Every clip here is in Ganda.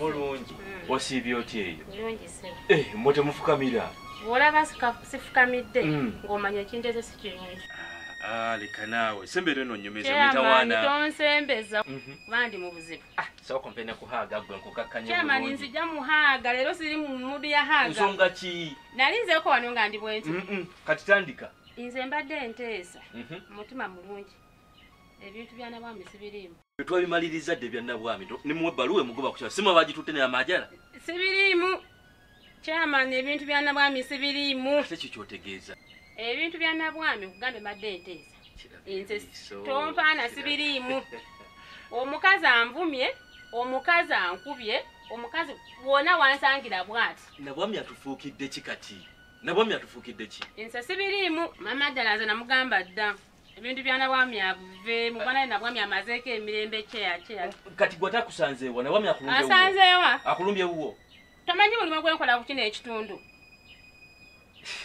mulungi hmm. osiibye otya eyo eh, mwe temufukamira olaba sifukamidde hmm. ng'omanya ekintu ekyo si kirungi ah, ah, leka naawe sembera eno nyumizamitawanaonsembeza mhm. bandi mu buzibu ah, sooka mpe ne kuhaaga gwe nkukakkanyakyamani nzija muhaaga leero siri mu mudu ya haaga nsonga ki nali nzeeko wano nga ndi bwenti kati tandika nze mbadde enteesa mhm. mutima mulungi ebintu byana bwami sibirimu twabimalirizza dde bya nabwami nimuwa ebbaluwa emugoba kukyalo simu abagitutte naye amajala sibiriimu kyamani ebintu bya nabwami sibiriimu ate kyo kyotegeeza ebintu bya nabwami okugambe mbadde enteesa nze tompaana sibiriimu omukazi anvumye omukazi ankubye omukazi wona wansangira bwati nabwami atufuukidde ki kati nabwami atufuukidde ki nze sibiriimu mama ddala nze namugamba dda ebintu bya nabwami abive mu bana nabwami amazeeko emirembe kyeya kyeya kati gwe takusanzeewa nabwami akulumbye asanzeewa akulumbye wuwo tamanyi mulimu gwenkola ku kino ekitundu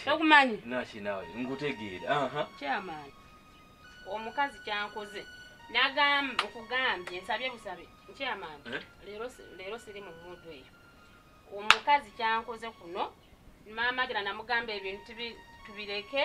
tokumanyi naki nawe nkutegeera aha chairman omukazi kyankoze nagamba okugambye nsabye busabe chairman eh? leero leero siri mu mudu eyo omukazi kyankoze kuno maama gera namugamba ebintu tubireke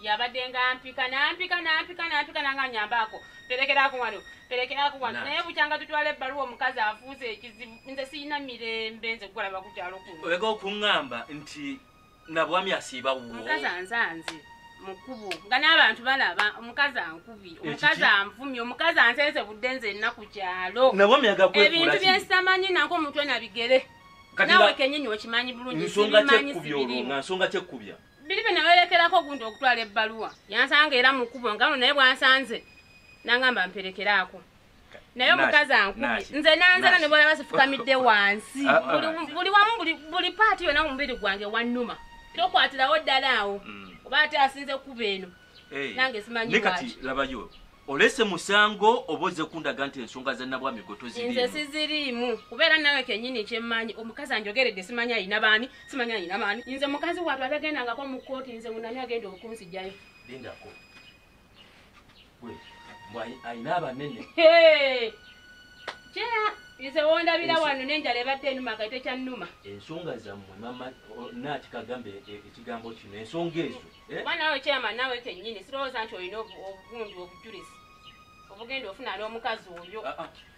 yabadde nga mpika nampika nampika nampika nanga nyambaako perekerako wano perekerako wano naye bukyanga tutwala ebbaluwa omukazi afuuza ekizibu nze sirina mirembe nze kukolaba kukyalo kuno olega okuŋŋamba nti nabwami asiiba wuwo mukazi anzanze mukubu nga n'abantu balaba omukazi ankubi omukazi anvumi omukazi ansenze budde nze nna ku kyalo nabwami agakwekula ebintu byesitamanye nanko omutwe nabigere nawe kenyini okimanyi bulungi sibimanyi sibirimu nga nsonga kyekkubya biri bye nawerekerako ogundi okutwala ebbaluwa yansanga era mukubo nga no naye bwansanze nangamba mperekeraako naye omukazi ankubi nze nanzala ne bwolaba sifukamidde wansi ah, ah. buli wamu buli paati yona omubiri gwange wanuma tokwatirawo ddala awo mm. oba ate asinze kuba eno nange simanyi kati labayo olese musango oba oze kundaga nti ensonga zanabwami gotoziriinze siziriimu kubeera nawe kenyini kyemmanyi omukazi anjogeredde simanyi ayina baani simanyi ayina baani nze mukazi watu atagendangako mu kooti nze munani agenda okunzijayo lindako alina abanene nze wondabira wano nenjala ebadde enuma nga tekyannuma ensonga zammwe mama naati kagambe e, ekigambo kino ensonga ezo eh? oba nawe kyama nawe kennyini sirowooza nti olina obugundu obujulizi obugenda ofuna n'omukazi oyo ah, ah.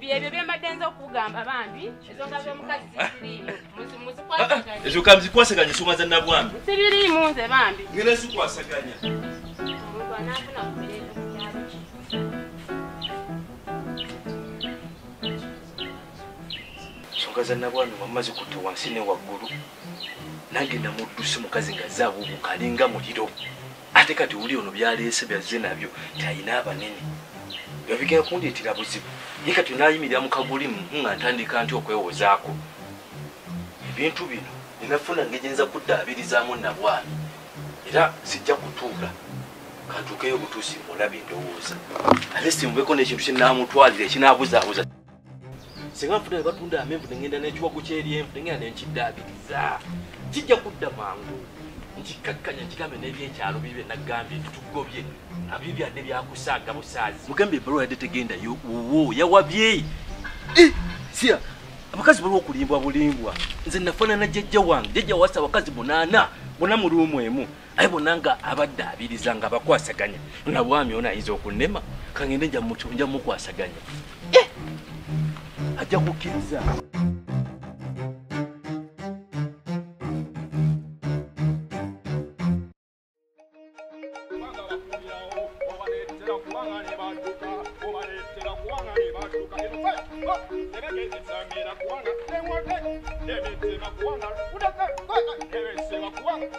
byebyo byembadde nza okugamba bambi ensonga z'omukazi zisiriimu ezo kamzikwasaganya ensonga za nabwami sibiriimu nze bambi ngera zikwasaganya omuntu anaafuna ku mirembe ensonga za nabwami wamma zikutte wansi ne waggulu nange namudduse mukazi nga zaabuubuka alinga muliro ate kati wuli ono byaleese byazze nabyo talina abanene byo bigenda kundeetera buzibu ye kati nayimirira mu kagulimu nga ntandika nti okwewozaako ebintu bino enafuna ngeri nza kuddaabirizaamu nabwami era sijja kutuula kantuukeyo obutuusi mulabe endowooza ate simubeko n'ekintu kyenamutwalira ekinabuzaabuza singa nfuna ne batunda amenvu ne ŋŋenda n'ekiwagu ky'eryenvu ne ŋŋenda ne nkiddaabiriza kijja kudda mangu nkikkakkanya nkigambe n'ebyekyalo bibe naggambye nti tugobye abyo byadde byakusaaga busaazi mugambye ebbaluwa yadde tegendayo wuwo yawabye eh, siya abakazi baliwo okulimbwa bulimbwa nze nafaanana jjajja wange jjajja wasa abakazi munaana bona mu luumu emu aye bona nga abadde abiriza nga bakwasaganya na bwami ona ayinza okunema kangende nja mukwasaganya eh! ajja kukkiriza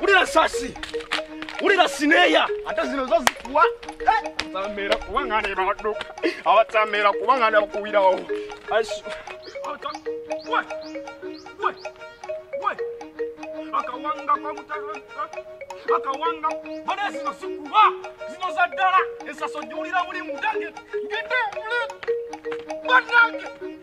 wulira sasi wulira sineeya ate zino zo zikuwa atamera kuba nga ne baduka abatamera kuba nga ne bakuwirawo akawanga akawanga bana zino sikuwa zino za ddala esaso jiwulira buli mudange ngete mule banange